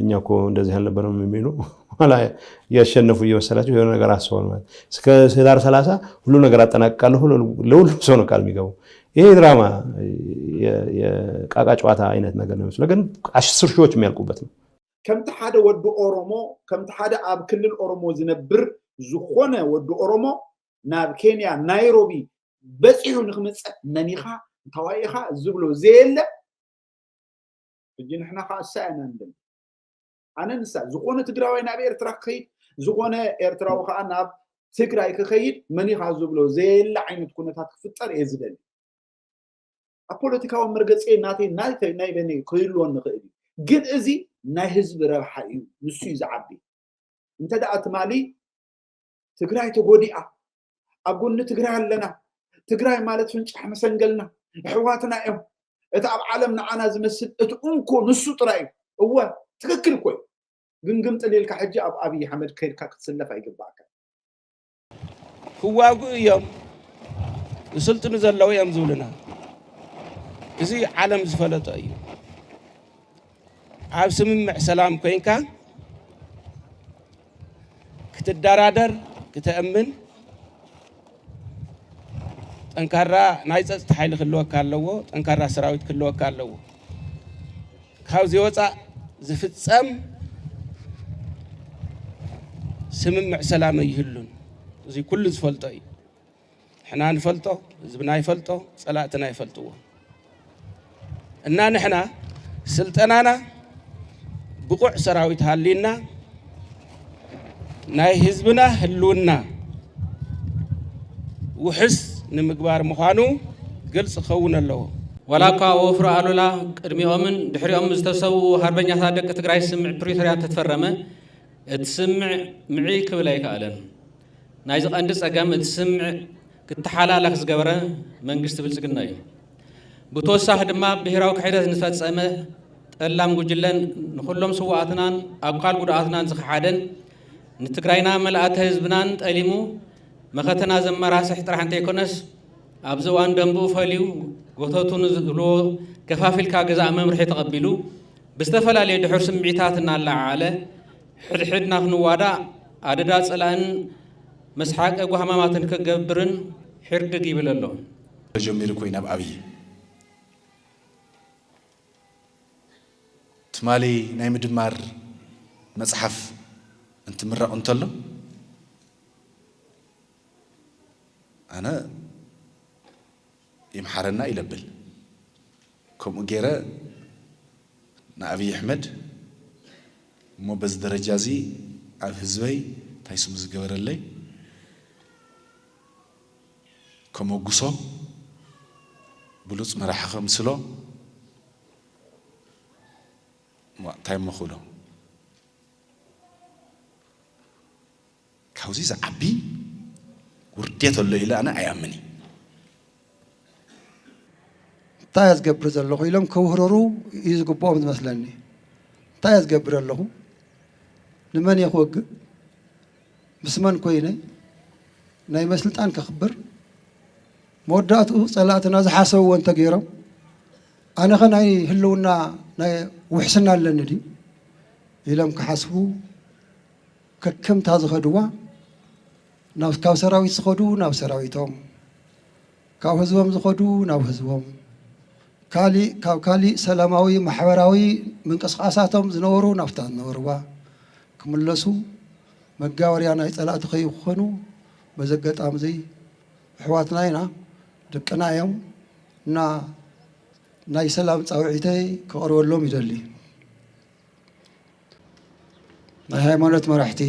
እኛ እኮ እንደዚህ አልነበረም የሚሉ ኋላ እያሸነፉ እየመሰላቸው የሆነ ነገር አስበዋል ማለት እስከ ህዳር ሰላሳ ሁሉ ነገር አጠናቅቃለሁ ለሁሉም ሰው ነው ቃል የሚገባው። ይሄ ድራማ የቃቃ ጨዋታ አይነት ነገር ነው ይመስለው፣ ግን አስር ሺዎች የሚያልቁበት ነው። ከምቲ ሓደ ወዲ ኦሮሞ ከምቲ ሓደ ኣብ ክልል ኦሮሞ ዝነብር ዝኾነ ወዲ ኦሮሞ ናብ ኬንያ ናይሮቢ በፂሑ ንክምፅእ መኒኻ እንታዋይ ኢኻ ዝብሎ ዘየለ ሕጂ ንሕና ከዓ እሳ ኢና ንደሊ ኣነ ንሳ ዝኾነ ትግራዋይ ናብ ኤርትራ ክኸይድ ዝኾነ ኤርትራዊ ከዓ ናብ ትግራይ ክኸይድ መኒኻ ዝብሎ ዘየለ ዓይነት ኩነታት ክፍጠር እየ ዝደሊ ኣብ ፖለቲካዊ መርገፂ ናተይ ናተይ ናይ በኒ ክህልወኒ ይኽእል እዩ ግን እዚ ናይ ህዝቢ ረብሓ እዩ ንሱ እዩ ዝዓቢ እንተ ደኣ ትማሊ ትግራይ ተጎዲኣ ኣብ ጎኒ ትግራይ ኣለና ትግራይ ማለት ፍንጫሕ መሰንገልና ኣሕዋትና እዮም እቲ ኣብ ዓለም ንዓና ዝመስል እቲ እንኮ ንሱ ጥራይ እዩ እወ ትክክል እኮ እዩ ግን ግም ጥሊልካ ሕጂ ኣብ ኣብይ ኣሕመድ ከይድካ ክትስለፍ ኣይግባእካ ክዋግኡ እዮም ዝስልጥኑ ዘለዉ እዮም ዝብሉና እዚ ዓለም ዝፈለጦ እዩ ኣብ ስምምዕ ሰላም ኮይንካ ክትደራደር፣ ክተእምን ጠንካራ ናይ ፀፅታ ሓይሊ ክህልወካ ኣለዎ፣ ጠንካራ ሰራዊት ክህልወካ ኣለዎ። ካብዚ ወፃእ ዝፍፀም ስምምዕ ሰላም ኣይህሉን። እዚ ኩሉ ዝፈልጦ እዩ። ንሕና ንፈልጦ፣ ህዝብና ይፈልጦ፣ ፀላእትና ይፈልጥዎ እና ንሕና ስልጠናና ብቑዕ ሰራዊት ሃሊና ናይ ህዝብና ህልውና ውሕስ ንምግባር ምዃኑ ግልፂ ክኸውን ኣለዎ። ዋላ እኳ ወፍሪ ኣሉላ ቅድሚኦምን ድሕሪኦም ዝተሰውኡ ሃርበኛታት ደቂ ትግራይ ስምምዕ ፕሪቶርያ እንተተፈረመ እቲ ስምምዕ ምዕይ ክብል ኣይከኣለን። ናይዚ ቀንዲ ጸገም እቲ ስምምዕ ክተሓላለኽ ዝገበረ መንግስቲ ብልጽግና እዩ። ብተወሳኺ ድማ ብሄራዊ ክሕደት ንዝፈጸመ ጠላም ጉጅለን ንኹሎም ስዋኣትናን ኣኳል ጉዱኣትናን ዝኸሓደን ንትግራይና መልኣተ ህዝብናን ጠሊሙ መኸተና ዘመራስሕ ጥራሕ እንተይኮነስ ኣብዚ እዋን ደንብኡ ፈልዩ ጎተቱ ንዝብልዎ ከፋፊልካ ግዛእ መምርሒ ተቐቢሉ ብዝተፈላለዩ ድሑር ስምዒታት እናለዓዓለ ሕድሕድና ክንዋዳእ ኣደዳ ጸላእን መስሓቂ ጓህማማትን ክገብርን ሒርድግ ይብል ኣሎ። ተጀሚሩ ኮይኑ ኣብ ኣብይ ትማሊ ናይ ምድማር መጽሓፍ እንትምረቕ እንተሎ ኣነ ይምሓረና ኢለብል ከምኡ ገይረ ንኣብይ ኣሕመድ እሞ በዚ ደረጃ እዚ ኣብ ህዝበይ እንታይ ስሙ ዝገበረለይ ከመጉሶ ብሉፅ መራሒ ከምስሎ እዋእ እንታይ እሞ ክብሎ ካብዚ ዝዓቢ ውርዴት ኣሎ ኢለ ኣነ ኣይኣምን እየ። እንታይ እየ ዝገብር ዘለኹ ኢሎም ከውህረሩ እዩ ዝግብኦም ዝመስለኒ። እንታይ እየ ዝገብር ዘለኹ? ንመን እየ ክወግእ? ምስ መን ኮይነ? ናይ መን ስልጣን ከኽብር? መወዳእትኡ ጸላእትና ዝሓሰብዎ እንተገይሮም ኣነኸ ናይ ህልውና ናይ ውሕስና ኣለኒ ድዩ ኢሎም ክሓስቡ ከከምታ ዝኸድዋ ናብ ካብ ሰራዊት ዝኸዱ ናብ ሰራዊቶም ካብ ህዝቦም ዝኸዱ ናብ ህዝቦም ካሊእ ካብ ካሊእ ሰላማዊ ማሕበራዊ ምንቅስቓሳቶም ዝነበሩ ናብታ ዝነበርዋ ክምለሱ መጋበርያ ናይ ፀላእቲ ከይኾኑ በዚ ኣጋጣሚ እዚ ኣሕዋትና ኢና ደቅና እዮም እና ናይ ሰላም ፃውዒተይ ከቕርበሎም ይደሊ። ናይ ሃይማኖት መራሕቲ፣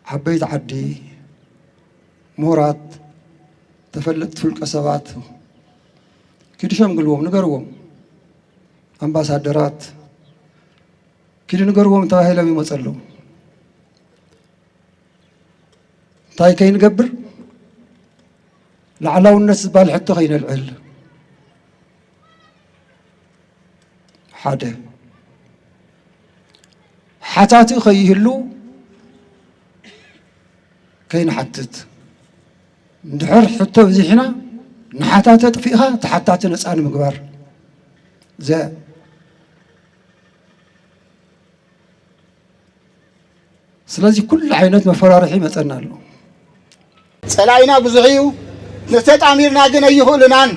ዓበይቲ ዓዲ፣ ምሁራት፣ ተፈለጥቲ ውልቀ ሰባት ኪዱ ሸምግልዎም፣ ንገርዎም። ኣምባሳደራት ኪዱ ንገርዎም ተባሂሎም ይመፁ ኣለዉ። እንታይ ከይንገብር ላዕላውነት ዝበሃል ሕቶ ከይነልዕል ሓደ ሓታቲ ከይህሉ ከይንሓትት እንድሕር ሕቶ ብዚሕና ንሓታተ ጥፊእኻ ተሓታቲ ነፃ ንምግባር ስለዚ ኩሉ ዓይነት መፈራርሒ ይመፀና ኣሎ። ፀላኢና ብዙሕ እዩ፣ ንተጣሚርና ግን ኣይኽእሉናን።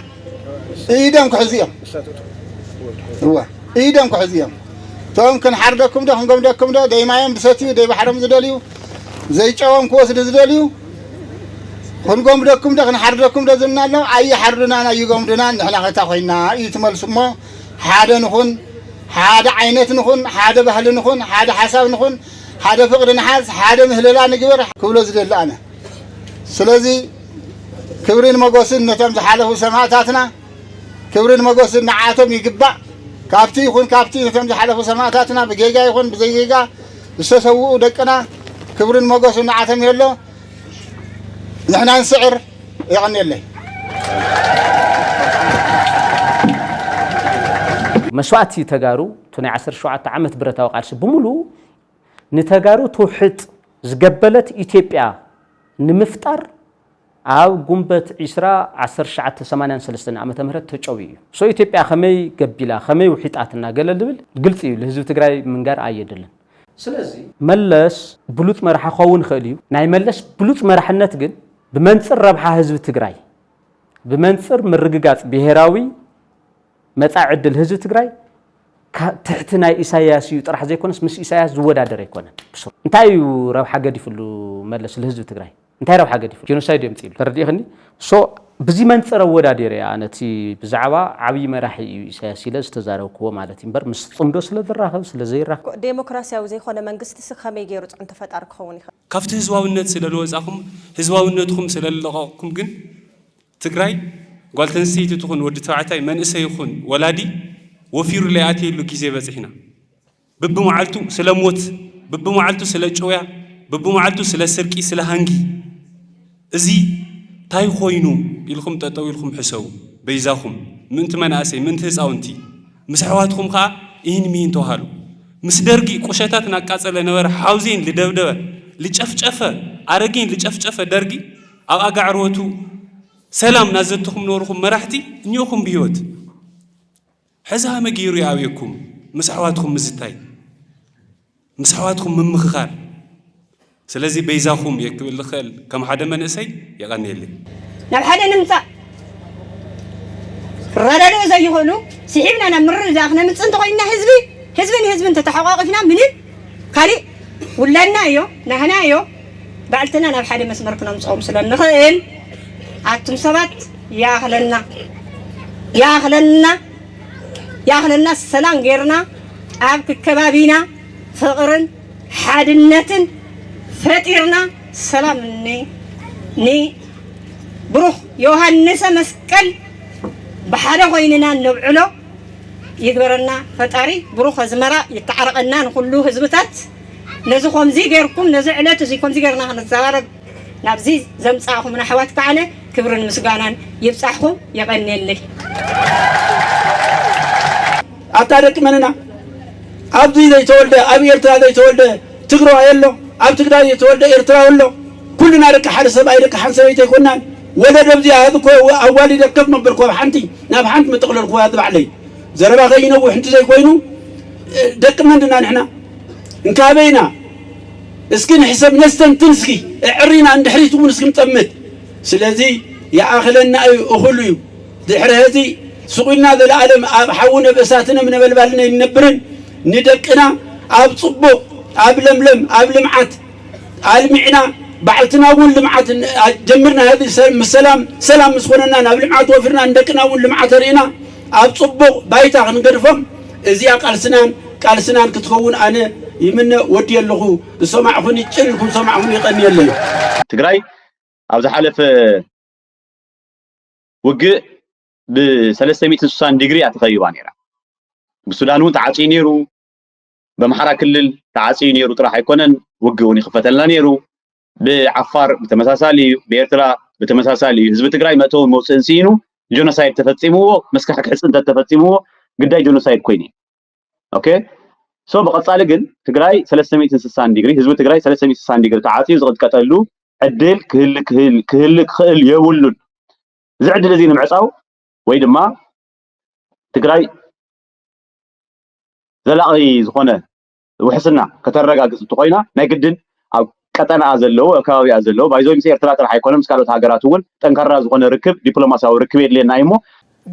ኢዶም ክሕዙ እዮም፣ እወ ኢዶም ክሕዙ እዮም። እቶም ክንሓርደኩም ዶ ክንገምደኩም ዶ ደይማዮም ዝሰትዩ ደይባሕሮም ዝደልዩ ዘይጨዎም ክወስዱ ዝደልዩ ክንጎምደኩም ዶ ክንሓርደኩም ዶ ዝብልና ኣሎ ኣይሓርዱናን ኣይጎምዱናን ንሕና ከታ ኮይና እዩ ትመልሱ እሞ ሓደ ንኹን ሓደ ዓይነት ንኹን፣ ሓደ ባህሊ ንኹን፣ ሓደ ሓሳብ ንኹን፣ ሓደ ፍቕሪ ንሓዝ፣ ሓደ ምህለላ ንግበር ክብሎ ዝደሊ ኣነ። ስለዚ ክብሪን ሞጎስን ነቶም ዝሓለፉ ሰማእታትና፣ ክብሪን ሞጎስን ንዓኣቶም ይግባእ። ካብቲ ይኹን ካብቲ ነቶም ዝሓለፉ ሰማእታትና ብጌጋ ይኹን ብዘይ ጌጋ ዝተሰውኡ ደቅና ክብሪን ሞጎስን ንዓኣቶም የሎ። ንሕና ንስዕር። መስዋእቲ ተጋሩ እቲ ናይ ዓሰርተ ሸውዓተ ዓመት ብረታዊ ቃልሲ ብምሉኡ ንተጋሩ ትውሕጥ ዝገበለት ኢትዮጵያ ንምፍጣር ኣብ ጉንበት ዒስራ ዓሰርተ ትሽዓተ ሰማንያን ሰለስተን ዓመተ ምህረት ተጨውዩ እዩ። ሶ ኢትዮጵያ ከመይ ገቢላ ከመይ ውሒጣትና ገለ ልብል ግልፂ እዩ ልህዝቢ ትግራይ ምንጋር ኣየድልን። ስለዚ መለስ ብሉፅ መራሒ ክኸውን ይኽእል እዩ። ናይ መለስ ብሉፅ መራሕነት ግን ብመንፅር ረብሓ ህዝቢ ትግራይ፣ ብመንፅር ምርግጋፅ ብሄራዊ መፃኢ ዕድል ህዝቢ ትግራይ ትሕቲ ናይ ኢሳያስ እዩ ጥራሕ ዘይኮነስ ምስ ኢሳያስ ዝወዳደር ኣይኮነን። እንታይ እዩ ረብሓ ገዲፍሉ መለስ ልህዝቢ ትግራይ? እንታይ ረብሓ ገዲፉ ጀኖሳይድ የምጺእሉ ተረዲእክኒ so ብዚ መንጽር ኣወዳዲረ እያ ኣነ እቲ ብዛዕባ ዓብዪ መራሒ እዩ ኢሳያስ ኢለ ዝተዛረብክዎ ማለት እዩ እምበር ምስ ጽምዶ ስለ ዝራኸብ ስለ ዘይራኸብ ዴሞክራሲያዊ ዘይኮነ መንግስቲሲ ከመይ ገይሩ ፅዕንቶ ፈጣሪ ክኸውን ይኽእል? ካብቲ ህዝባዊነት ስለ ልወፃኹም ህዝባዊነትኹም ስለ ልለቐቕኩም ግን ትግራይ ጓል ተንስተይቲ ትኹን ወዲ ተባዕታይ መንእሰይ ይኹን ወላዲ ወፊሩ ለይኣትየሉ ጊዜ በፂሕና። ብብመዓልቱ ስለ ሞት፣ ብብመዓልቱ ስለ ጭውያ፣ ብብመዓልቱ ስለ ስርቂ፣ ስለ ሃንጊ እዚ ታይ ኾይኑ ኢልኹም ጠጠው ኢልኩም ሕሰቡ በይዛኹም ምእንቲ መናእሰይ ምእንቲ ህፃውንቲ ምስ ኣሕዋትኹም ኸዓ ኢሂን ሚሂን ተውሃሉ ምስ ደርጊ ቁሸታት ናቃፀለ ነበረ ሓውዜን ልደብደበ ልጨፍጨፈ ኣረጊን ልጨፍጨፈ ደርጊ ኣብ ኣጋዕርወቱ ሰላም ናዘተኹም ነበርኹም መራሕቲ እኒኦኹም ብሂወት ሕዚ ሃመ ገይሩ ይኣብየኩም ምስ ኣሕዋትኩም ምዝታይ ምስ ኣሕዋትኩም ምምኽኻር ስለዚ በይዛኹም እየ ክብል ዝኽእል ከም ሓደ መንእሰይ የቐንየለይ። ናብ ሓደ ንምጻእ ክረዳድኡ ዘይኽእሉ ስሒብና ናብ ምርድዳእ ክነምጽእ እንተኾይንና ህዝቢ ህዝቢ ንህዝቢ እንተተሓቋቒፍና ምንም ካሊእ ውላድና እዮ ናህና እዮ ባዕልትና ናብ ሓደ መስመር ክነምጽኦም ስለ እንኽእል ኣቱም ሰባት ይኣኽለና ይኣኽለና ይኣኽለና ሰላም ጌርና ኣብ ክከባቢና ፍቕርን ሓድነትን ፈጢርና ሰላም ን ን ብሩኽ ዮሃንሰ መስቀል ብሓደ ኮይንና ነብዕሎ ይግበረና ፈጣሪ ብሩኽ ኣዝመራ ይተዓረቐና ንኹሉ ህዝብታት ነዚ ከምዚ ጌርኩም ነዚ ዕለት እዚ ከምዚ ጌርና ክንዛረብ ናብዚ ዘምጻእኹምና ኣሕዋት ከኣነ ክብርን ምስጋናን ይብጻሕኹም የቐንየለይ። ኣታ ደቂ መን ኢና ኣብዚ ዘይተወልደ ኣብ ኤርትራ ዘይተወልደ ትግራዋይ ኣሎ ኣብ ትግራይ ዘይተወልደ ኤርትራዊ ኣሎ ኩልና ደቂ ሓደ ሰብኣይ ደቂ ሓንቲ ሰበይቲ ኣይኮናን ወለደ ኣብዚኣ ህዚ እኮ ኣዋሊደ ከፍ መበልኩ ኣብ ሓንቲ ናብ ሓንቲ መጠቕለልኩዋ እዚ ባዕለይ ዘረባ ከይነውሕ እንተዘይኮይኑ ደቂ መን ድና ንሕና እንካበይ ኢና እስኪ ንሕሰብ ነስተንትን እስኪ እዕሪና እንድሕሪት እውን እስኪ ንጠምት ስለዚ ይኣኽለና እዩ እኹሉ እዩ ድሕሪ ሀዚ ስቑልና ዘለኣለም ኣብ ሓዊ ነበሳትን እሳትን ነበልባልን ኣይንነብርን ንደቅና ኣብ ፅቡቕ ኣብ ለምለም ኣብ ልምዓት ኣልሚዕና ባዕልትና እውን ልምዓት ጀምርና ህቢ ምስ ሰላም ሰላም ምስ ኮነና ናብ ልምዓት ወፊርና ንደቅና እውን ልምዓት ኣርእና ኣብ ፅቡቕ ባይታ ክንገድፎም እዚኣ ቃልስናን ቃልስናን ክትኸውን ኣነ ይምነ ወዲየ ኣለኹ ዝሰማዕኹኒ ጭር ኢልኩም ዝሰማዕኹኒ ይቐንየለይ። ትግራይ ኣብ ዝሓለፈ ውግእ ብ360 ዲግሪ እያ ተኸቢባ ነይራ። ብሱዳን እውን ተዓፅዩ ነይሩ፣ በምሓራ ክልል ተዓጽዩ ነይሩ ጥራሕ ኣይኮነን ውግእ እውን ይኽፈተልና ነይሩ ብዓፋር ብተመሳሳሊ እዩ ብኤርትራ ብተመሳሳሊ እዩ ህዝቢ ትግራይ መእተውን መውፅእን ስኢኑ ጆኖሳይድ ተፈፂምዎ መስካሕክሒ ፅንተት ተፈፂምዎ ግዳይ ጆኖሳይድ ኮይኑ ኦኬ ሶ ብቐፃሊ ግን ትግራይ 360 ዲግሪ ህዝቢ ትግራይ 360 ዲግሪ ተዓፅዩ ዝቕጥቀጠሉ ዕድል ክህል ክህል ክህል ክኽእል የብሉን እዚ ዕድል እዚ ንምዕፃው ወይ ድማ ትግራይ ዘላቒ ዝኾነ ውሕስና ከተረጋግፅ እንተኾይና ናይ ግድን ኣብ ቀጠናኣ ዘለዎ ኣብ ከባቢኣ ዘለዎ ባይዞይ ምስ ኤርትራ ጥራሕ ኣይኮነ ምስ ካልኦት ሃገራት እውን ጠንካራ ዝኾነ ርክብ ዲፕሎማሲያዊ ርክብ የድልየና እዩ እሞ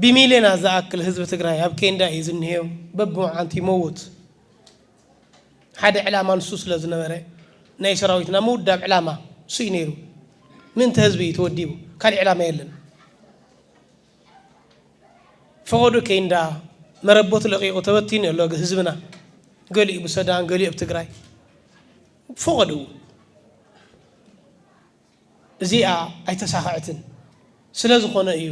ብሚልዮናት ዝኣክል ህዝቢ ትግራይ ኣብ ኬንዳ እዩ ዝኒሀ በብመዓንቱ ይመውት ሓደ ዕላማ ንሱ ስለ ዝነበረ ናይ ሰራዊትና ምውዳብ ዕላማ ንሱ እዩ ነይሩ ምእንተ ህዝቢ እዩ ተወዲቡ ካሊእ ዕላማ የለን ፈቐዱ ኬንዳ መረበቱ ለቒቑ ተበቲኑ እዩ ኣሎ ህዝብና ገሊኡ ብሰዳን ገሊኡ ኣብ ትግራይ ፈቐዱ እዚኣ ኣይተሳኸዐትን ስለ ዝኾነ እዩ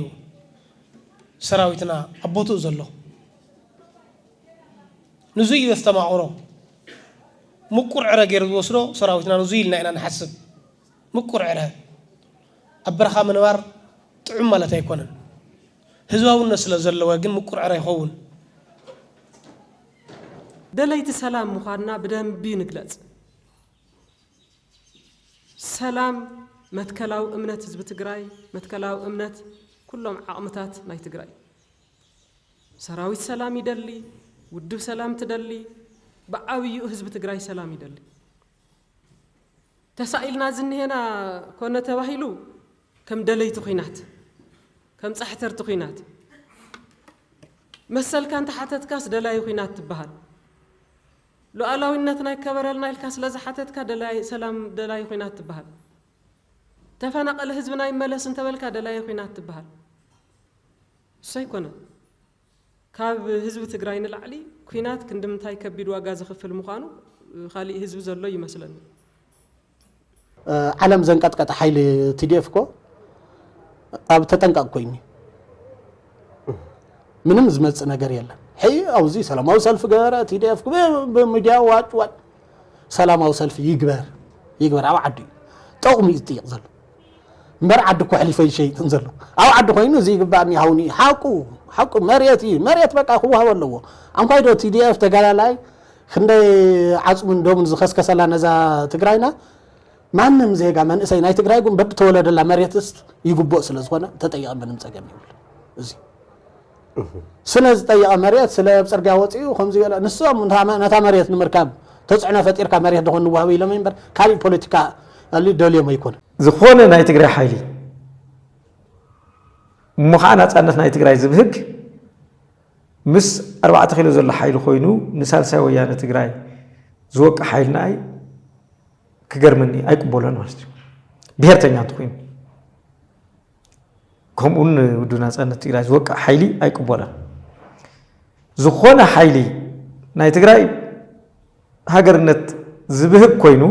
ሰራዊትና ኣብ ቦትኡ ዘሎ ንዙ እዩ ዘስተማቕሮ ምቁር ዕረ ገይሩ ዝወስዶ ሰራዊትና ንዙ ኢልና ኢና ንሓስብ ምቁር ዕረ ኣብ በረኻ ምንባር ጥዑም ማለት ኣይኮነን። ህዝባውነት ስለ ዘለወ ግን ምቁር ዕረ ይኸውን። ደለይቲ ሰላም ምዃንና ብደንቢ ንግለፅ። ሰላም መትከላዊ እምነት ህዝቢ ትግራይ፣ መትከላዊ እምነት ኩሎም ዓቕምታት ናይ ትግራይ እዩ። ሰራዊት ሰላም ይደሊ፣ ውድብ ሰላም ትደሊ፣ ብዓብይኡ ህዝቢ ትግራይ ሰላም ይደሊ። ተሳኢልና ዝኒሄና ኮነ ተባሂሉ ከም ደለይቲ ኹናት፣ ከም ጻሕተርቲ ኹናት፣ መሰልካ እንተሓተትካስ ደላዪ ኹናት ትበሃል፣ ሉኣላዊነትና ይከበረልና ኢልካ ስለ ዝሓተትካ ደላዪ ሰላም ደላዪ ኹናት ትበሃል፣ ተፈናቐለ ህዝብና ይመለስ እንተበልካ ደላዪ ኹናት ትበሃል። እሱ ኣይኮነን። ካብ ህዝቢ ትግራይ ንላዕሊ ኩናት ክንድምንታይ ከቢድ ዋጋ ዘኽፍል ምዃኑ ካሊእ ህዝቢ ዘሎ ይመስለኒ። ዓለም ዘንቀጥቀጠ ሓይሊ ቲዲኤፍ እኮ ኣብ ተጠንቀቕ ኮይኑ ምንም ዝመፅእ ነገር የለን። ሕይ ኣብዚ ሰላማዊ ሰልፊ ገበረ ቲዲኤፍ ብሚዲያ ዋጭ ዋጭ ሰላማዊ ሰልፊ ይግበር ይግበር ኣብ ዓዱ እዩ ጠቕሙ እዩ ዝጥይቕ ዘሎ። እምበር ዓዲ እኮ ኣሕሊፈ ይሸይጥን ዘሎ ኣብ ዓዲ ኮይኑ እዚ ይግባእኒ ይሃውኒ ሓቁ ሓቁ መሬት እዩ መሬት በቃ ክዋሃብ ኣለዎ ኣንኳይ ዶ ቲዲኤፍ ተጋዳላይ ክንደይ ዓፅሙን ደሙን ዝኸስከሰላ ነዛ ትግራይና ማንም ዜጋ መንእሰይ ናይ ትግራይ ግን በብተወለደላ መሬትስ ይግብኦ ስለ ዝኾነ ተጠያቂ ምንም ፀገም ይብሉ እዚ ስለ ዝጠየቐ መሬት ስለ ኣብ ፅርግያ ወፂኡ ከምዚ ገለ ንሶም ነታ መሬት ንምርካብ ተፅዕኖ ፈጢርካ መሬት ዶ ንዋሃብ ኢሎም እምበር ካሊእ ፖለቲካ ደልዮም ኣይኮነ ዝኾነ ናይ ትግራይ ሓይሊ እሞ ከዓ ናፃነት ናይ ትግራይ ዝብህግ ምስ ኣርባዕተ ኪሎ ዘሎ ሓይሊ ኮይኑ ንሳልሳይ ወያነ ትግራይ ዝወቅዕ ሓይልና ኣይ ክገርመኒ ኣይቅበሎን ማለት እዩ ብሄርተኛ እንተኮይኑ ከምኡ ውን ውድብ ናፃነት ትግራይ ዝወቅዕ ሓይሊ ኣይቅበሎን። ዝኾነ ሓይሊ ናይ ትግራይ ሃገርነት ዝብህግ ኮይኑ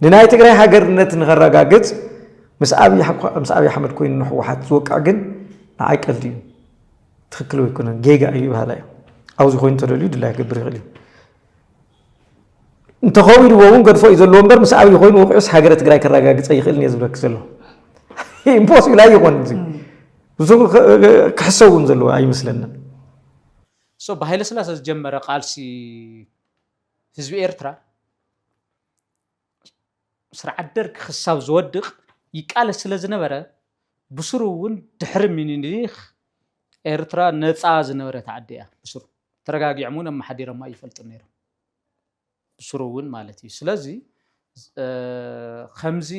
ንናይ ትግራይ ሃገርነት ንኸረጋግፅ ምስ ኣብይ ኣሕመድ ኮይኑ ንሕወሓት ዝወቅዕ ግን ንዓይ ቀልዲ እዩ ትክክል ኣይኮነን ጌጋ እዩ በሃላ እዩ ኣብዚ ኮይኑ ተደልዩ ድላይ ክገብር ይኽእል እዩ እንተኸዊልዎ እውን ገድፎ እዩ ዘለዎ እምበር ምስ ኣብይ ኮይኑ ውቅዑስ ሃገረ ትግራይ ከረጋግፀ ይኽእልን እየ ዝብለክ ዘሎ ኢምፖስብል ኣይኾን እዚ ብዙ ክሕሰብ እውን ዘለዎ ኣይመስለንን ሶ ብሃይለ ስላሰ ዝጀመረ ቃልሲ ህዝቢ ኤርትራ ስርዓት ደርግ ክሳብ ዝወድቕ ይቃለስ ስለ ዝነበረ ብስሩ እውን ድሕሪ ሚኒሊክ ኤርትራ ነፃ ዝነበረት ዓዲ እያ ብስሩ ተረጋጊዖም እውን ኣመሓዲሮማ ይፈልጡ ነይሮም ብስሩ እውን ማለት እዩ ስለዚ ከምዚ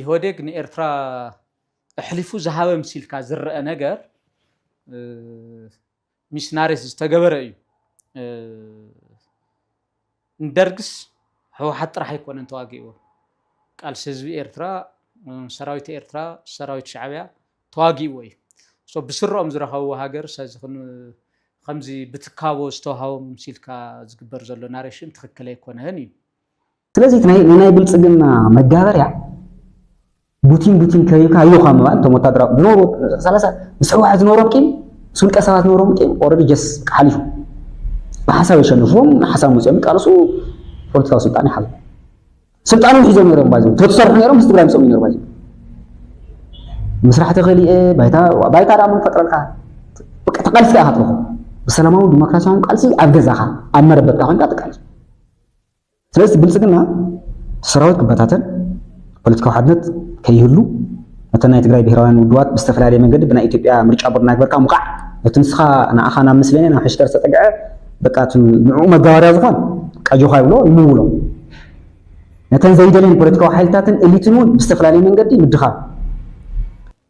ኢህወዴግ ንኤርትራ ኣሕሊፉ ዝሃበ ምሲልካ ዝረአ ነገር ሚስናሪስ ዝተገበረ እዩ። ንደርግስ ህወሓት ጥራሕ ኣይኮነን ተዋጊእዎ። ቃልሲ ህዝቢ ኤርትራ፣ ሰራዊት ኤርትራ፣ ሰራዊት ሻዕቢያ ተዋጊእዎ እዩ። ብስረኦም ዝረኸብዎ ሃገር ከምዚ ብትካቦ ዝተዋሃቦም ሲልካ ዝግበር ዘሎ ናሬሽን ትኽክል ኣይኮነን እዩ። ስለዚ እቲ ናይ ናይ ብልጽግና መጋበርያ ቡቲን ቡቲን ከሪብካ ኣዮ ካብ ምባል እቶም ወታደራዊ ዝነበሩ ሰላሳ ምስ ህወሓት ዝነበሮም ቂም ምስ ውልቀ ሰባት ዝነበሮም ቂም ኦልሬዲ ጀስ ሓሊፉ ብሓሳብ የሸንፍዎም ሓሳብ መፅኦም ይቃለሱ ፖለቲካዊ ስልጣን ይሓዙ ስልጣኖም ሒዞም ነይሮም ባይዞ ተዝሰርሑ ነይሮም ምስ ትግራይ ምስኦም ይነሩ ባይዞ ምስራሕ ተኸሊኤ ባይታ ባይታ ዳሞ ፈጥረልካ በቃ ተቃልሲ ኢኻ ትረኽቦ ብሰላማዊ ዲሞክራሲያዊ ቃልሲ ኣብ ገዛኻ ኣብ መረበትካ ኮይንካ ትቃልስ ስለዚ ብልፅግና እቲ ሰራዊት ክበታተን፣ ፖለቲካዊ ሓድነት ከይህሉ፣ ነተን ናይ ትግራይ ብሄራውያን ውድባት ብዝተፈላለየ መንገዲ ብናይ ኢትዮጵያ ምርጫ ቦርድ እናግበርካ ምውቃዕ፣ ነቲ ንስኻ ንኣኻ ናብ ምስሌኔ ናብ ሕሽከር ዝተጠግዐ በቃ እቲ ንዕኡ መጋበርያ ዝኾን ቀጆኻ ይብሎ ይምውሎ። ነተን ዘይደልየን ፖለቲካዊ ሓይልታትን ኤሊትን እውን ብዝተፈላለየ መንገዲ ምድኻም።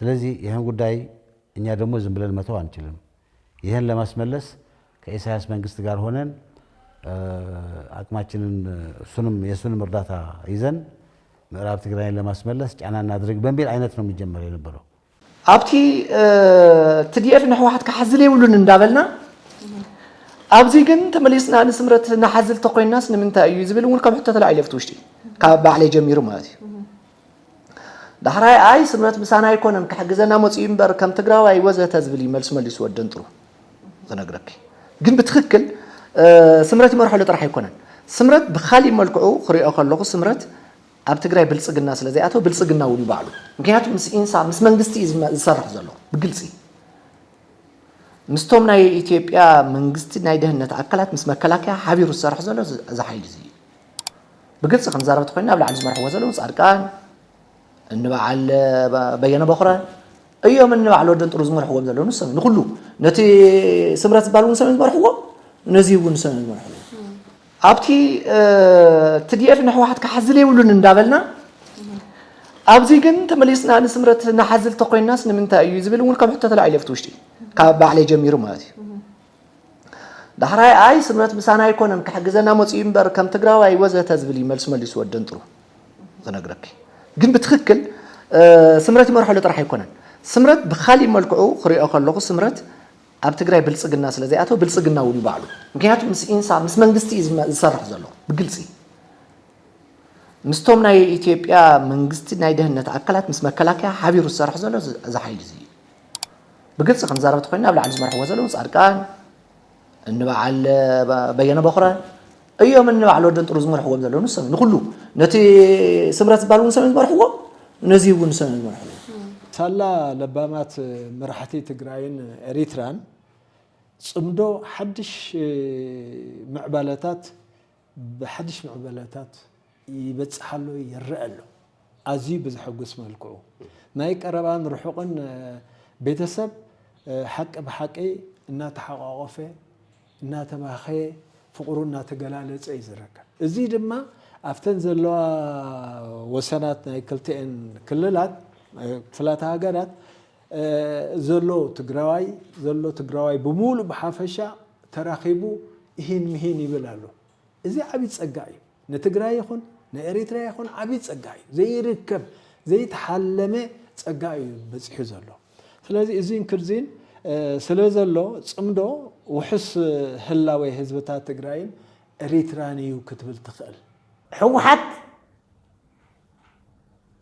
ስለዚ ይሀን ጉዳይ እኛ ደግሞ ዝም ብለን መተው አንችልም ይሀን ለማስመለስ ከኢሳያስ መንግስት ጋር ሆነን አቅማችንን እሱንም የሱንም እርዳታ ይዘን ምዕራብ ትግራይን ለማስመለስ ጫና እናድርግ በሚል አይነት ነው የሚጀመር የነበረው። ኣብቲ ትዲኤፍ ንሕወሓት ክሓዝል የብሉን እንዳበልና ኣብዚ ግን ተመሊስና ንስምረት ንሓዝል ተኮይናስ ንምንታይ እዩ ዝብል እውን ከም ሕቶ ተላዒሉ ኣብቲ ውሽጢ ካብ ባዕለይ ጀሚሩ ማለት እዩ ዳሕራይ ኣይ ስምረት ምሳና ኣይኮነን ክሕግዘና መፅኡ እምበር ከም ትግራዋይ ወዘተ ዝብል እዩ መልሱ መሊሱ ወደንጥሩ ዝነግረኪ ግን ብትክክል ስምረት ይመርሐሉ ጥራሕ ኣይኮነን ስምረት ብካሊእ መልክዑ ክሪኦ ከለኹ ስምረት ኣብ ትግራይ ብልፅግና ስለ ዘይኣተወ ብልፅግና እውን እዩ ባዕሉ ምክንያቱ ምስ ኢንሳ ምስ መንግስቲ እዩ ዝሰርሕ ዘሎ ብግልፂ ምስቶም ናይ ኢትዮጵያ መንግስቲ ናይ ደህንነት ኣካላት ምስ መከላከያ ሓቢሩ ዝሰርሕ ዘሎ እዚ ሓይሊ እዚ እዩ ብግልፂ ክንዛረብ ተኮይና ኣብ ላዕሊ ዝመርሕዎ ዘለዉ ፃድቃን እንበዓል በየነ በኹረ እዮም እንበዓል ወደን ጥሩ ዝመርሕዎም ዘለዉ ንሰብ ንኩሉ ነቲ ስምረት ዝበሃል እውን ሰብን ዝመርሕዎ ነዚ እውን ሰብን ዝመርሕዎ ኣብቲ ትዲኤፍ ንሕወሓት ክሓዝል የብሉን እንዳበልና ኣብዚ ግን ተመሊስና ንስምረት ንሓዝል ተኮይናስ ንምንታይ እዩ ዝብል እውን ከም ሕቶ ተላዒሉ ኣብቲ ውሽጢ ካብ ባዕለይ ጀሚሩ ማለት እዩ ዳሕራይ ኣይ ስምረት ምሳና ኣይኮነን ክሕግዘና መፅኡ እምበር ከም ትግራዋይ ወዘተ ዝብል እዩ መልሱ መሊሱ ወደንጥሩ ዝነግረኪ ግን ብትክክል ስምረት ይመርሐሉ ጥራሕ ኣይኮነን ስምረት ብካሊእ መልክዑ ክሪኦ ከለኹ ስምረት ኣብ ትግራይ ብልፅግና ስለ ዘይኣተወ ብልፅግና እውን እዩ ባዕሉ ምክንያቱ ምስ ኢንሳ ምስ መንግስቲ እዩ ዝሰርሕ ዘሎ ብግልፂ ምስቶም ናይ ኢትዮጵያ መንግስቲ ናይ ደህንነት ኣካላት ምስ መከላከያ ሓቢሩ ዝሰርሕ ዘሎ እዚ ሓይሊ እዚ እዩ ብግልፂ ክንዛረብ ተኮይና ኣብ ላዕሊ ዝመርሕዎ ዘለዉ ፃድቃን እንበዓል በየነ በኹረ እዮም እንበዓል ወደን ጥሩ ዝመርሕዎም ዘለዉ ንሰብ ንኩሉ ነቲ ስምረት ዝበሃል እውን ሰም ዝመርሕዎ ነዚ እውን ሰም ዝመርሕዎ ሳላ ለባማት መራሕቲ ትግራይን ኤሪትራን ፅምዶ ሓድሽ ምዕባለታት ብሓድሽ ምዕበለታት ይበጽሕ ኣሎ ይረኣ ኣሎ ኣዝዩ ብዘሐጉስ መልክዑ ናይ ቀረባን ርሑቕን ቤተሰብ ሓቂ ብሓቂ እናተሓቋቖፈ እናተባኸየ ፍቕሩ እናተገላለጸ እዩ ዝርከብ እዚ ድማ ኣብተን ዘለዋ ወሰናት ናይ ክልቲኤን ክልላት ክፍላተ ሃገራት ዘሎ ትግራዋይ ዘሎ ትግራዋይ ብሙሉእ ብሓፈሻ ተራኺቡ ኢሂን ምሂን ይብል ኣሎ። እዚ ዓብይ ፀጋ እዩ። ንትግራይ ይኹን ንኤሪትሪያ ይኹን ዓብይ ፀጋ እዩ። ዘይርከብ ዘይተሓለመ ፀጋ እዩ በፂሑ ዘሎ። ስለዚ እዙይን ክርዚን ስለዘሎ ፅምዶ ውሑስ ህላዌ ህዝብታት ትግራይን ኤሪትራን እዩ ክትብል ትኽእል። ህወሓት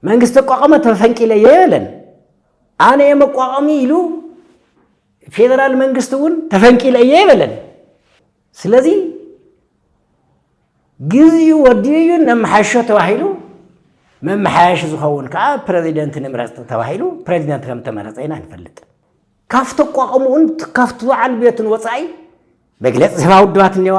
መንግስት ተቋቋመ ተፈንቂለ እየ በለን። ኣነ እየ መቋቋሚ ኢሉ ፌዴራል መንግስት እውን ተፈንቂለ እየ ይበለን። ስለዚ ግዜኡ ወዲኡ እዩ ነመሓሾ ተባሂሉ መመሓያሽ ዝኸውን ከዓ ፕረዚደንት ንምረፅ ተባሂሉ ፕረዚደንት ከም ተመረፀ ኢና ንፈልጥ። ካብ ተቋቋምኡን ካብቲ በዓል ቤቱን ወፃኢ መግለፂ ዝህባ ውድባት እኔዋ፣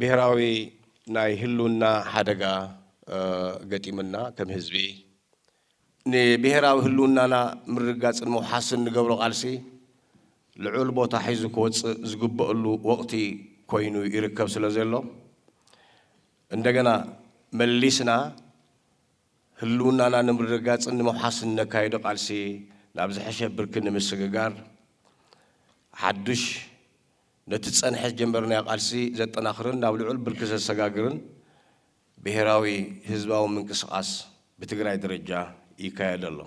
ብሄራዊ ናይ ህልውና ሓደጋ ገጢሙና ከም ህዝቢ ንብሄራዊ ህልውናና ምርግጋፅን ምውሓስን ንገብሮ ቃልሲ ልዑል ቦታ ሒዙ ክወፅእ ዝግበእሉ ወቕቲ ኮይኑ ይርከብ ስለዘሎ እንደገና መሊስና ህልውናና ንምርግጋፅን ንምውሓስን እነካይዶ ቃልሲ ናብ ዝሐሸ ብርኪ ንምስግጋር ሓዱሽ ነቲ ዝጸንሐ ዝጀመርናዮ ቃልሲ ዘጠናኽርን ናብ ልዑል ብርኪ ዘሰጋግርን ብሄራዊ ህዝባዊ ምንቅስቓስ ብትግራይ ደረጃ ይካየድ ኣሎ።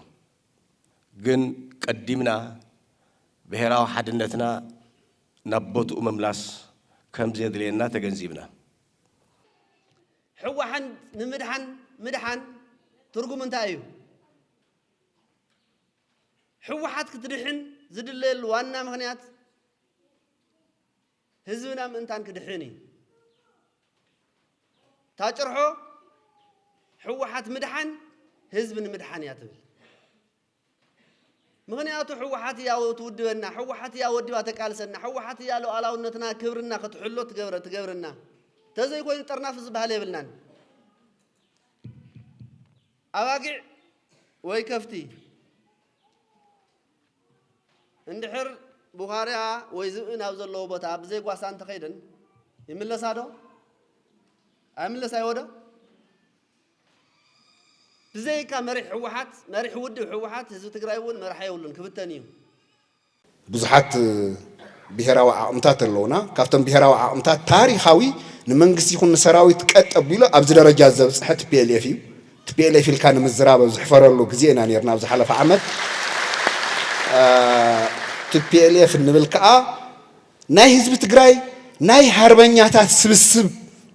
ግን ቀዲምና ብሄራዊ ሓድነትና ናብ ቦትኡ ምምላስ ከምዘድልየና ተገንዚብና። ሕዋሓንት ንምድሓን ምድሓን ትርጉሙ እንታይ እዩ? ሕወሓት ክትድሕን ዝድለየሉ ዋና ምኽንያት፣ ህዝብና ምእንታን ክድሕን እዩ እታ ጭርሖ ሕወሓት ምድሓን ህዝቢ ንምድሓን እያ ትብል። ምክንያቱ ሕወሓት እያ ትውድበና፣ ሕወሓት እያ ወዲባ ተቃልሰና፣ ሕወሓት እያ ሉዓላውነትና ክብርና ክትሕሎ ትገብረ ትገብርና ተዘይኮይኑ ጥርናፍ ዝበሃል የብልናን። ኣባጊዕ ወይ ከፍቲ እንድሕር ቡኻርያ ወይ ዝብኢ ናብ ዘለዎ ቦታ ብዘይ ጓሳ እንተኸይደን ይምለሳ ዶ? ኣይምለስ ኣይወዶ? ብዘይካ መሪሕ ህወሓት መሪሕ ውድብ ህወሓት ህዝቢ ትግራይ እውን መራሒ የብሉን ክብተን እዩ። ብዙሓት ብሄራዊ ዓቕምታት ኣለውና። ካብቶም ብሄራዊ ዓቕምታት ታሪኻዊ ንመንግስቲ ይኹን ንሰራዊት ቀጥ ኣቢሉ ኣብዚ ደረጃ ዘብፅሐ tplf እዩ። Tplf ኢልካ ንምዝራብ ኣብ ዝሕፈረሉ ግዜ ኢና ኔርና ኣብ ዝሓለፈ ዓመት። Tplf እንብል ከኣ ናይ ህዝቢ ትግራይ ናይ ሃርበኛታት ስብስብ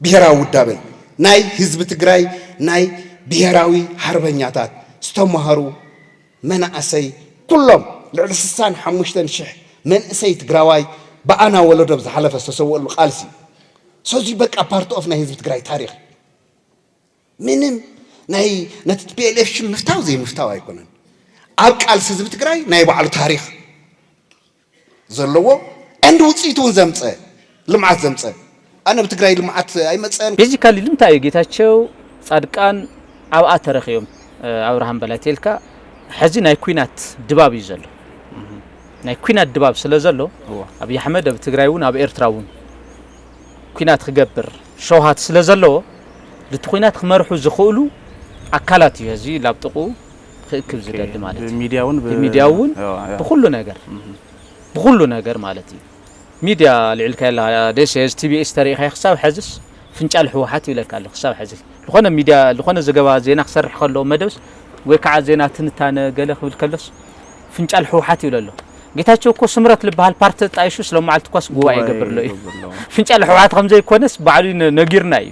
ብሄራዊ ውዳበ እዩ። ናይ ህዝቢ ትግራይ ናይ ብሄራዊ ሃርበኛታት ዝተማህሩ መናእሰይ ኩሎም ልዕሊ ስሳን ሓሙሽተን ሽሕ መንእሰይ ትግራዋይ ብኣና ወለዶ ኣብ ዝሓለፈ ዝተሰወእሉ ቃልሲ እዩ። ሰዚ በቃ ፓርት ኦፍ ናይ ህዝቢ ትግራይ ታሪኽ እዩ። ምንም ናይ ነቲ ቲፒኤልኤፍ ሽም ምፍታው ዘይምፍታው ኣይኮነን። ኣብ ቃልሲ ህዝቢ ትግራይ ናይ ባዕሉ ታሪኽ ዘለዎ and ውፅኢት እውን ዘምፀ ልምዓት ዘምፀ ኣነ ብትግራይ ልምዓት ኣይመፀን። ቤዚካሊ ልምታይ እዩ ጌታቸው ፃድቃን ኣብኣ ተረኪዮም ኣብርሃም በላይ ተልካ ሐዚ ናይ ኩናት ድባብ እዩ ዘሎ ናይ ኩናት ድባብ ስለ ዘሎ ኣብይ ኣሕመድ ኣብ ትግራይ እውን ኣብ ኤርትራ እውን ኩናት ክገብር ሸውሃት ስለ ዘለዎ ልቲ ኩናት ክመርሑ ዝኽእሉ ኣካላት እዩ ህዝቢ ላብ ጥቕኡ ክእክብ ዝደሊ ማለት እዩ። ብሚድያ እውን ብ- ብሚድያ እውን ያው፣ ያው። ብኹሉ ነገር ብኹሉ ነገር ማለት እዩ። ሚድያ ኣልዒልካዮ ኣለኻ ደሴ እዚ ቲቢኤስ ተሪኢኻዮ ክሳብ ሐዝስ ፍንጫል ህወሓት ይብለካ ኣሎ ክሳብ ሐዚ ዝኾነ ሚድያ ዝኾነ ዘገባ ዜና ክሰርሕ ከሎ መደብስ ወይ ከዓ ዜና ትንታነ ገለ ክብል ከሎስ ፍንጫል ህውሓት ይብሎ ኣሎ ጌታቸው እኮ ስምረት ልበሃል ፓርቲ ተጣይሹ ስለመዓልቲ እኳስ ጉባኤ ይገብርሎ እዩ ፍንጫል ህውሓት ከምዘይኮነስ ባዕሉ ነጊርና እዩ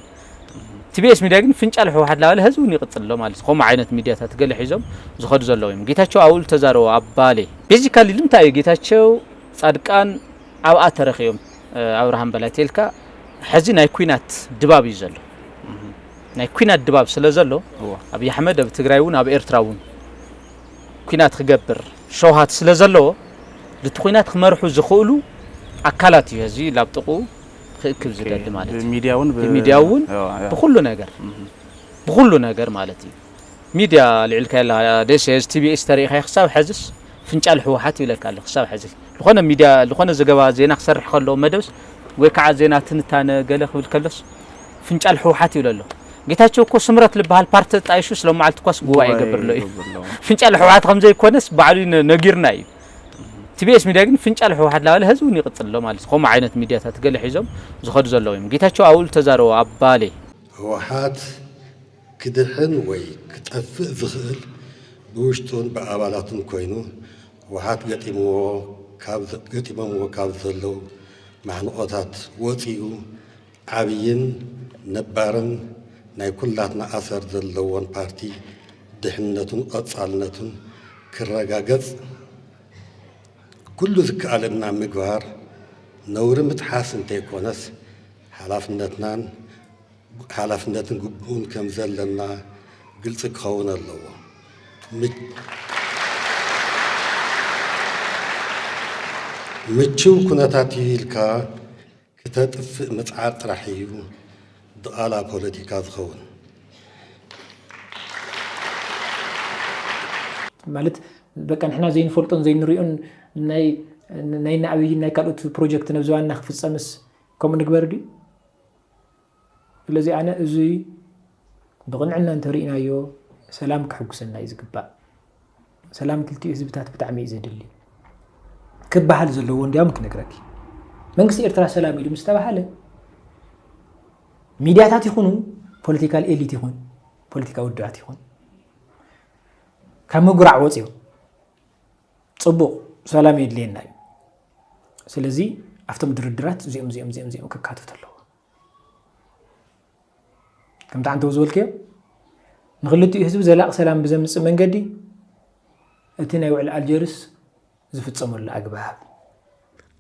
ቲቢኤስ ሚድያ ግን ፍንጫል ህውሓት ላበለ ህዚ እውን ይቅፅል ኣሎ ማለት ከምኡ ዓይነት ሚድያታት ገለ ሒዞም ዝኸዱ ዘለዉ እዮም ጌታቸው ኣብኡ ዝተዛረቦ ኣብ ባሌ ቤዚካሊ ልምንታይ እዩ ጌታቸው ፃድቃን ኣብኣ ተረኺቦም ኣብርሃም በላይ ቴልካ ሕዚ ናይ ኩናት ድባብ እዩ ዘሎ ናይ ኩናት ድባብ ስለ ዘሎ ኣብዪ ኣሕመድ ኣብ ትግራይ እውን ኣብ ኤርትራ እውን ኩናት ክገብር ሸውሃት ስለዘለዎ ንቲ ኩናት ክመርሑ ዝኽእሉ ኣካላት እዩ ህዝቢ ላብ ጥቕኡ ክእክብ ዝደሊ ማለት እዩ። ብሚድያ እውን ብሚድያ እውን ብኩሉ ነገር ብኩሉ ነገር ማለት እዩ። ሚድያ ኣልዒልካያ ኣለኻ ደሴ እዚ ቲቢኤስ ተሪኢኻዮ ክሳብ ሐዝስ ፍንጫል ህወሓት ይብለካ ኣሎ ክሳብ ሐዚ ልኾነ ሚድያ ልኾነ ዘገባ ዜና ክሰርሕ ከሎ መደብስ ወይ ካዓ ዜና ትንታነ ገለ ክብል ከሎስ ፍንጫል ህውሓት ይብሎ ኣሎ ጌታቸው እኮ ስምረት ልባሃል ፓርቲ ተጣይሹስ ሎማዓልቲ እኳስ ጉባኤ ይገብር ኣሎ እዩ ፍንጫል ህውሓት ከምዘይ ኮነስ ባዕሉ እዩ ነጊርና እዩ ቲቢኤስ ሚድያ ግን ፍንጫል ህውሓት ላበለ ህዚ እውን ይቅፅል ኣሎ ማለት ከምኡ ዓይነት ሚድያታት ገለ ሒዞም ዝኸዱ ዘለዉ እዮም ጌታቸው ኣብኡ ልተዛረቦ ኣብ ባሌ ህውሓት ክድሕን ወይ ክጠፍእ ዝኽእል ብውሽጡን ብኣባላቱን ኮይኑ ህወሓት ገጢምዎ ገጢሞምዎ ካብ ዘለዉ ማሕንቖታት ወፂኡ ዓብይን ነባርን ናይ ኩላትና ኣሰር ዘለዎን ፓርቲ ድሕንነቱን ቐፃልነቱን ክረጋገፅ ኩሉ ዝከኣለና ምግባር ነውሪ ምጥሓስ እንተይኮነስ ሓላፍነትናን ሓላፍነትን ግቡእን ከም ዘለና ግልፂ ክኸውን ኣለዎ። ምችው ኩነታት እዩ ኢልካ ክተጥፍእ ምፅዓር ጥራሕ እዩ ድቓላ ፖለቲካ ዝኸውን። ማለት በቃ ንሕና ዘይንፈልጦን ዘይንሪኦን ናይ ናይ ናኣብይን ናይ ካልኦት ፕሮጀክት ነብዚ ዋና ክፍፀምስ ከምኡ ንግበር ድዩ? ስለዚ ኣነ እዙይ ብቕንዕና እንተሪኢናዮ ሰላም ከሕጉሰና እዩ ዝግባእ። ሰላም ክልቲኡ ህዝብታት ብጣዕሚ እዩ ዘድሊ ክበሃል ዘለዎ እንዲያውም ክነግረኪ መንግስቲ ኤርትራ ሰላም ኢሉ ምስ ተባሃለ ሚድያታት ይኹኑ ፖለቲካል ኤሊት ይኹን ፖለቲካ ውድባት ይኹን ካብ ምጉራዕ ወፂኦም ፅቡቕ ሰላም የድልየና እዩ። ስለዚ ኣብቶም ድርድራት እዚኦም እዚኦም እዚኦም እዚኦም ክካተቱ ኣለዎ ከምቲ ዓንተው ዝበልክዮ ንክልቲኡ ህዝቢ ዘላቂ ሰላም ብዘምፅእ መንገዲ እቲ ናይ ውዕል ኣልጀርስ ዝፍፀመሉ ኣግባብ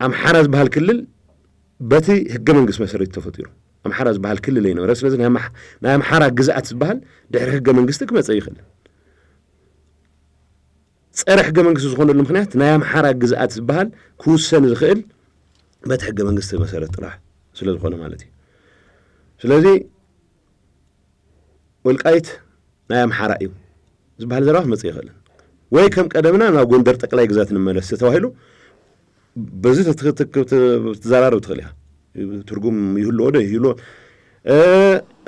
ኣምሓራ ዝበሃል ክልል በቲ ህገ መንግስት መሰረት ተፈጢሩ ኣምሓራ ዝበሃል ክልል ኣይነበረ ስለዚ ናይ ኣምሓራ ግዝኣት ዝበሃል ድሕሪ ህገ መንግስቲ ክመፀ ይኽእል ጸረ ሕገ መንግስቲ ዝኾነሉ ምክንያት ናይ ኣምሓራ ግዝኣት ዝበሃል ክውሰን ዝኽእል በቲ ሕገ መንግስቲ መሰረት ጥራሕ ስለ ዝኾነ ማለት እዩ። ስለዚ ወልቃይት ናይ ኣምሓራ እዩ ዝበሃል ዘረባ ክመጽእ ይኽእልን ወይ ከም ቀደምና ናብ ጎንደር ጠቅላይ ግዛት ንመለስ ተባሂሉ በዚ ክትዘራረብ ትኽእል ኢኻ ትርጉም ይህልዎ ዶ ይህልዎ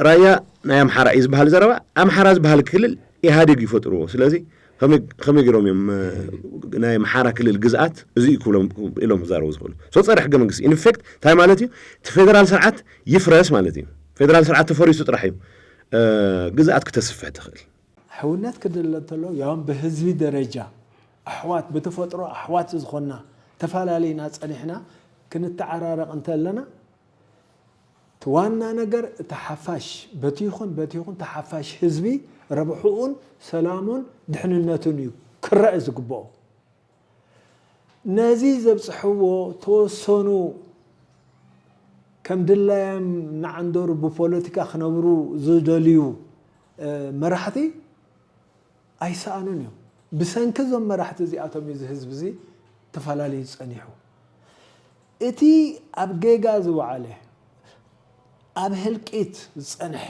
ራያ ናይ ኣምሓራ እዩ ዝበሃል ዘረባ ኣምሓራ ዝበሃል ክልል ኢህኣዴግ ይፈጥርዎ ስለዚ ከመይ ገይሮም እዮም ናይ ኣምሓራ ክልል ግዝኣት እዚ እዩ ክብሎም ኢሎም ክዛረቡ ዝኽእሉ ሶ ፀረ ሕገ መንግስቲ ኢንፌክት እንታይ ማለት እዩ እቲ ፌደራል ስርዓት ይፍረስ ማለት እዩ ፌደራል ስርዓት ተፈሪሱ ጥራሕ እዩ ግዝኣት ክተስፍሕ ትኽእል ሕውነት ክድለ እንተሎ ያውም ብህዝቢ ደረጃ ኣሕዋት ብተፈጥሮ ኣሕዋት ዝኾንና ተፋላሊና ጸኒሕና ክንተዓራረቕ እንተለና እቲ ዋና ነገር እቲ ሓፋሽ በቲ ይኹን በቲ ይኹን እቲ ሓፋሽ ህዝቢ ረብሕኡን ሰላሙን ድሕንነቱን እዩ ክረኣ ዝግበኦ። ነዚ ዘብጽሕዎ ተወሰኑ ከም ድላዮም እናዓንደሩ ብፖለቲካ ክነብሩ ዝደልዩ መራሕቲ ኣይሰኣኑን እዮም። ብሰንኪ እዞም መራሕቲ እዚኣቶም እዩ እዚ ህዝቢ እዚ ተፈላልዩ ጸኒሑ። እቲ ኣብ ጌጋ ዝወዓለ፣ ኣብ ህልቂት ዝጸንሐ፣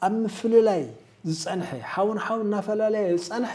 ኣብ ምፍልላይ ዝጸንሐ፣ ሓው ንሓው እናፈላለየ ዝጸንሐ